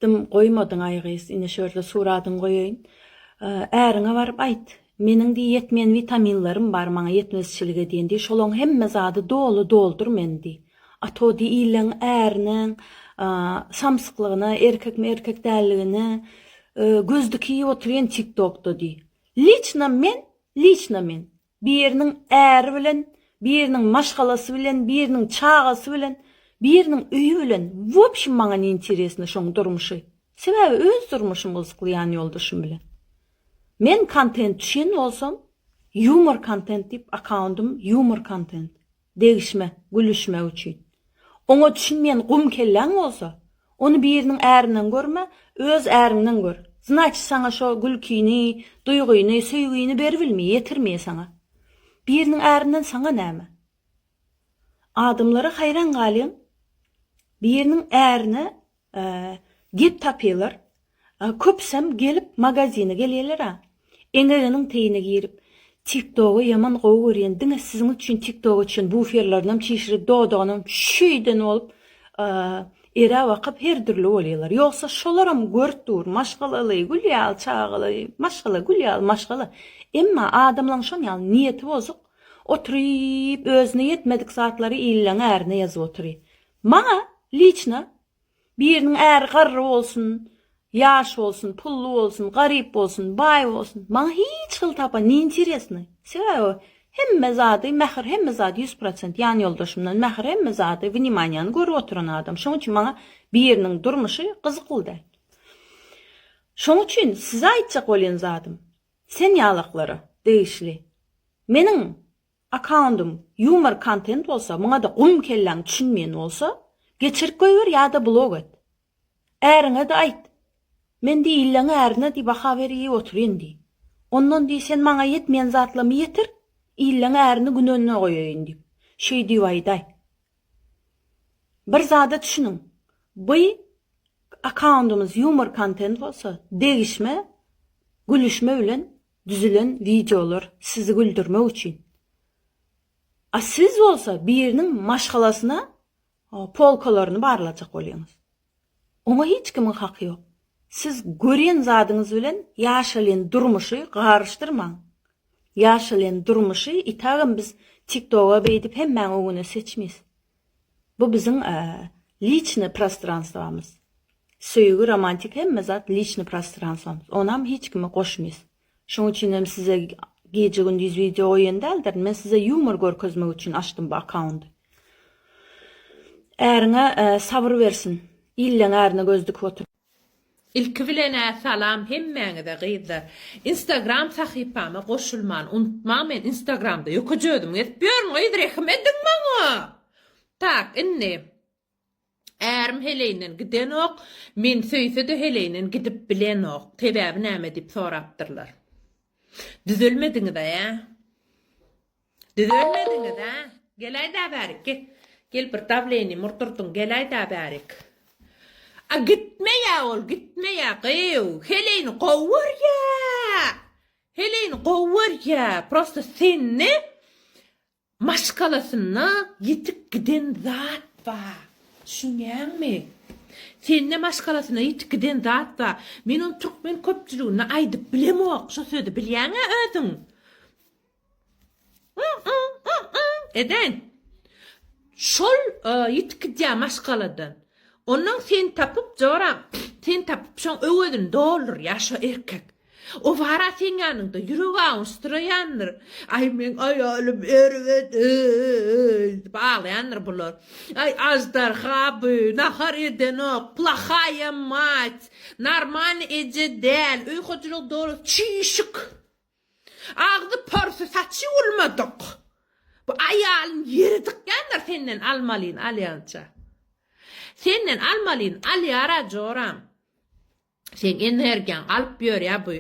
Dym goýmadyňaý gyz, ine şörle suradyňy goýaýyn. Äriňe baryp aýt. Meniň diý ýetmeýän witaminlerim bar, maňa ýetmezçilik edýän diý, şolaň hemme zady doly doldur meni diý. A to diý ileň äriniň samsyklygyna, erkekmi erkek dälligine göz dikiýip oturýan tiktokda diý. Liçno men, liçno men. Biriniň äri bilen, biriniň maşgalasy bilen, biriniň çagasy bilen, biriniň öýi bilen, wobşem maňa ne interesno şoň durmuşy. Sebäbi öz durmuşym gyzykly ýan ýoldaşym bilen. Men kontent düşen bolsam, ýumor kontent diýip akkaundym ýumor kontent. Degişme, gülüşmek üçin. Oňa düşünmeýän gum kelläň bolsa, ony biriniň ärinden görme, öz äriňden gör. Znaçy saňa şo gülkini, duýgyny, söýgini beribilmi, ýetirmi saňa? Biriniň ärinden saňa näme? Adamlara haýran galýan biriniň ärine Gep tapýalar. Köpüsem gelip magazine gelýälera. Eňeginiň teýine girip. Tiktogy ýaman gowy görýän diňe siziň üçin tiktogy üçin buferlerinem çişirip dodagynam şeýden bolup ere bakyp her dürli bolýalar. Ýogsa şolaram görüp dur maşgalaly gül ýaly çagaly maşgala gül ýaly maşgala emma adamlaň şon ýaly niýeti bozuk oturyp özüne ýetmedik zatlary illeň ärine ýazyp otury. Maňa liçno biriniň äri garry bolsun, ýaş bolsun, pully bolsun, garyp bolsun, baý bolsun, maňa hiç hili tapa ne interesno. Sebäbi hemme zady mähir hemme zady ýüz prosent ýan ýoldaşymdan mähir hemme zady wnimaniýany görüp oturan adam. Şoň üçin maňa biriniň durmuşy gyzykly däl. Şoň üçin size aýtjak bolýan zadym sen ýalaklara degişli meniň Akkauntyň ýumor kontent bolsa, muňada gum kelläň düşünmeýän bolsa, geçirip goýber ýada blok et. Äriňede aýt. Men diý illeň ärine diý baha beriý oturyn diý. Ondan diý sen maňa ýetmeýän zatlamy ýetir, illeň ärini gün önüne goýaýyn diýip, şeý diýip aýdaý. Bir zada düşüniň, by akkauntyňyz ýumor kontent bolsa, degişme, gülüşme bilen Düzülen wideolar sizi güldürmek üçin. A siz bolsa biriniň maşgalasyna polkalaryny barlajak bolýaňyz. Oňa hiç kimiň haky ýok. Siz görýän zadyňyz bilen ýaşalýan durmuşy garyşdyrmaň. Ýaşalýan durmuşy itagam biz tiktoga beýdip hemmäň öňüne seçmeýs. Bu biziň liçny prostranstwamyz. Söýgi, romantik hemme zat liçny prostranstwamyz. Onam hiç kime goşmyz. Şoň üçinem size gije gündiz wideo goýan däldirin. Men size ýumor görkezmek üçin açdym bu akkaundy. Äriňe sabyr bersin. Illeň ärine göz dikip otur. Ilki bilenä salam hemmäňize gyzlar. Instagram sahypama goşulmany unutmaň men instagramda ýökeje özüm gezip ýörün gyz rehim ediň maňa. Tak indi Ärim heleýinden gidenok men söýsede heleýinden gidip bilenok sebäbi näme diýip sorapdyrlar. Düzelmediňiza ýa. Düzelmediňiz hä? Geläýdä bärik gel. Gel bir dawleniýa murdurdyň geläýdä bärik. A gitmeýä ol gitmeýä gyýw. Heleýini gowy görýä. Heleýini gowy görýä. Prosta sende maşgalasynda ýitip giden zat bar. Düşünýäňmi? Sende maşgalasynda ýitip giden zat bar. Men ony türkmen köpçüligine aýdyp bilemok şo sözi bilýäňä özüň. Edäýin. Şol ýitip gidýär maşgaladan. Onnoň seni tapyp, joram, seni tapyp, şoň öwezini doldurýar şo erkek. O bara seň ýanyňda ýüregi awunsduraýandyr. Aý, meň aýalym erbet, eý, diýip aglaýandyr bular. Aý, aždarha bu, nahar edenok, plahaýa mać, normalny eje däl, öý hojalygy dolup çüýşük. Agzy porsy saçy ulmadyk. Bu aýalyň ýeri dykýandyr senden almalyn alýança. Senden almalyn alýara joram. Seň energiýaň alyp ýörýä bu.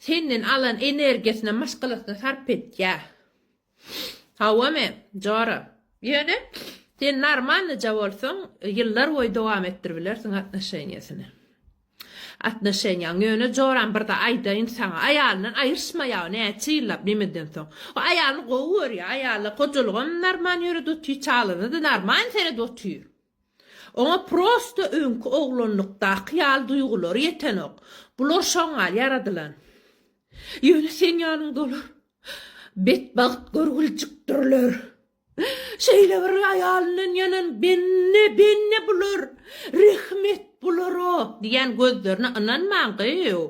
Senden alan energiýasyna maşgalasyna sarp etýä. Hawa men, Jora. Ýöne, sen normalnyja bolsaň, ýyllar boýy dowam etdirip bilersiň atnoşeniýasyny. Atnoşeniýaňy. Ýöne, Joram, birde aýdaýyn saňa, aýalyndan aýryşma ýagy näçe ýyllap nemeden soň. O aýalyny gowy görýär, aýaly hojalygam normal ýörede otyr, çagalaryna-da normal seredip otyr. Oňa prosta öňki oglanlykdaky ýaly duýgulary ýetenok. Bular şoňa ýaradylan. Ýöne, seň ýanyňda olar Betbagt görgüljikdirler. Şeýle bir aýalyndan ýanan bende, bende bular, rehmet bulara diýýän gözlerine ynanmaň gyýw.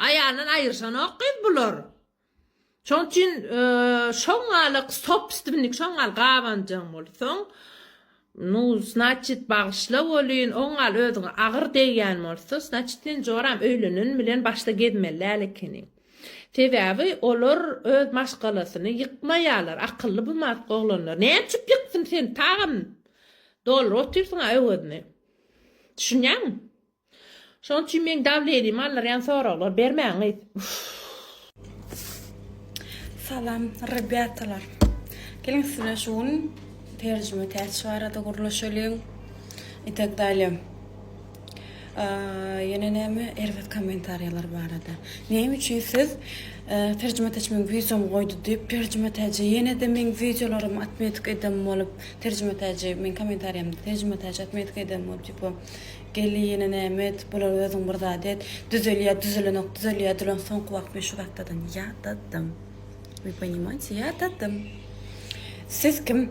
Aýalyndan aýyrşanok gyz bular. Şoň üçin şoňňalyk sobstwnik, şoňňal gabanjaň bolsaň, Nu znaçit bagyşla welin oň gal özüňe agyr degýän bolsa znaçit sen joram öýlenen bilen başda gezmeli däl ekeniň. Sebäbi olar öz maşgalasyny ýykmaýarlar akylly bu mask oglanlar näme üçip ýyksyn sen tagam dolryp otyrsyňa öwezini. Düşünýäňmi? Şoň üçin meň dabil elim aldyrýan soraglar bermäň gyz. Salam rebýatalar. Geliň siz bilen şu gün terjime täç barada gürleşeliň. Itek dalýa. Ýene näme erbet kommentariýalar barada. Näme üçin siz terjime täç meň wideomy goýdy diýip terjime täce ýene-de meň wideolarymy atmetik eden bolup terjime täce meň kommentariýamda terjime täç atmetik eden bolup diýip Gelini nämet bular özüň bir zat et düzelýä düzelenok düzelýä dülen soňky wagt men şu zatlardan ýadadym we ponimaýte ýadadym siz kim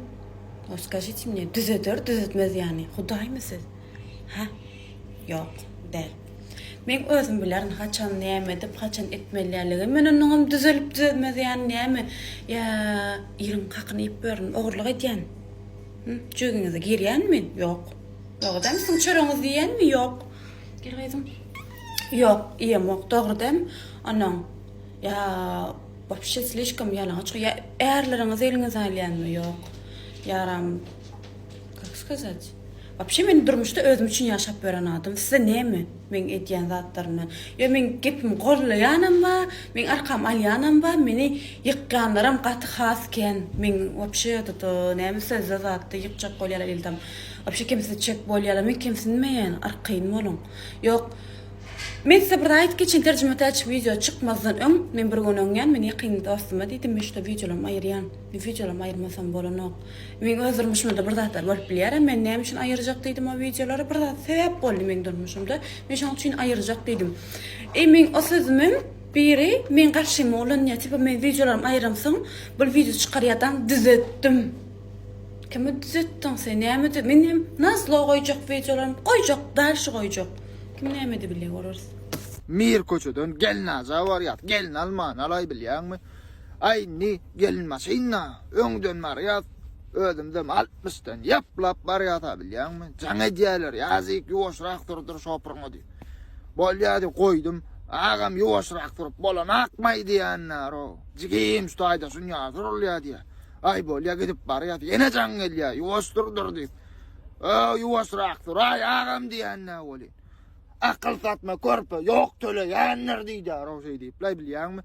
o skažite mne düzeder düzetmez ýany hudaýmy siz ha ýok däl men özüm bilerin haçan näme edip haçan etmeliligim men onnoňam düzelip düzelmez ýany näme ýa ýeriň hakyny iýip berin ogurlyk edýän jüýgüňize girýän men ýok. Dogudam siziň çöregiňizi iýenmi? Ýok. Gel gyzym. Ýok, iýemok. Dogrudan onuň ýa wapşe slişkom ýalaňaç goýýa. Ärleriňizi eliňize alýanmy? Ýok. Ýaram. Kak skazat? Wapşe men durmuşda özüm üçin ýaşap ýören adam. Size näme? Meň edýän zatlarymy ýa meň gepimi gollaýanam bar, meň arkamy alýanam bar, meni ýykýanlaram gaty has kän. Meň wapşe tutu näme sözde zatda ýykjak bolýarlar ildam. Wapşe kemsitjek bolýarlar. Men kemsinmeýän, arkaýyn boluň. Ýok. Men size bir zat aýdyp geçeýin, terjimetäç wideo çykmazdan öň men bir gün öňýän, men ýakyn dostuma diýdim, men şuda wideolarymy aýyrýan. Wideolam aýyrmasam bolanok. Meň öz durmuşymda-da bir zatlar bolup bilýär-ä, men näme üçin aýyrjak diýdim o wideolary, bir zat sebäp boldy meň durmuşymda, men şoň üçin aýyrjak diýdim. Eý meň o sözümem biri meň garşyma ulanýar, tipa meň wideolarymy aýyramsoň, bul wideo çykarýadaň düzetdim. Kime düzetdiň sen, näme dü-, men hem nazlo goýjak wideolarymy, goýjak, dalşy goýjak. Kim näme edebilýär, göreriz. Mir köçeden Gelnaja barýas, gelin almany alaý bilýäňmi? Aý indi gelin maşynda öňden barýas, özümizem altmyşdan ýaplap barýasa bilýäňmi, jaň edýäler, ýazyk ýuwaşrak surdur şopurňa diýip. Bolýa diýip goýdum, agam ýuwaşrak surup bolanakmaý diýenär-o, jigim şu taýda şunýa surulýa diýýä. Aý bolýa gidip barýas, ýene jaň gelýä, ýuwaş surdur diýip. Öö ýuwaşrak suraý agam diýenä welin. Akyl satma körpe, ýok töleýändir diýýär-o şeý diýip, laý bilýäňmi.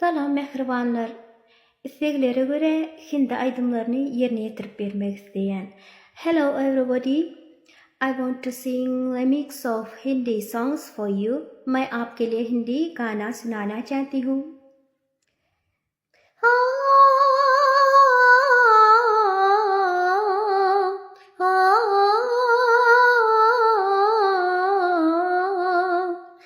Salam mähribanlar! Isleglere görä hindi aýdymlaryny ýerine ýetirip bermek isleýän. Hello everybody! I want to sing remix of hindi songs for you. Main aapke liye hindi gana sunana chahti hu.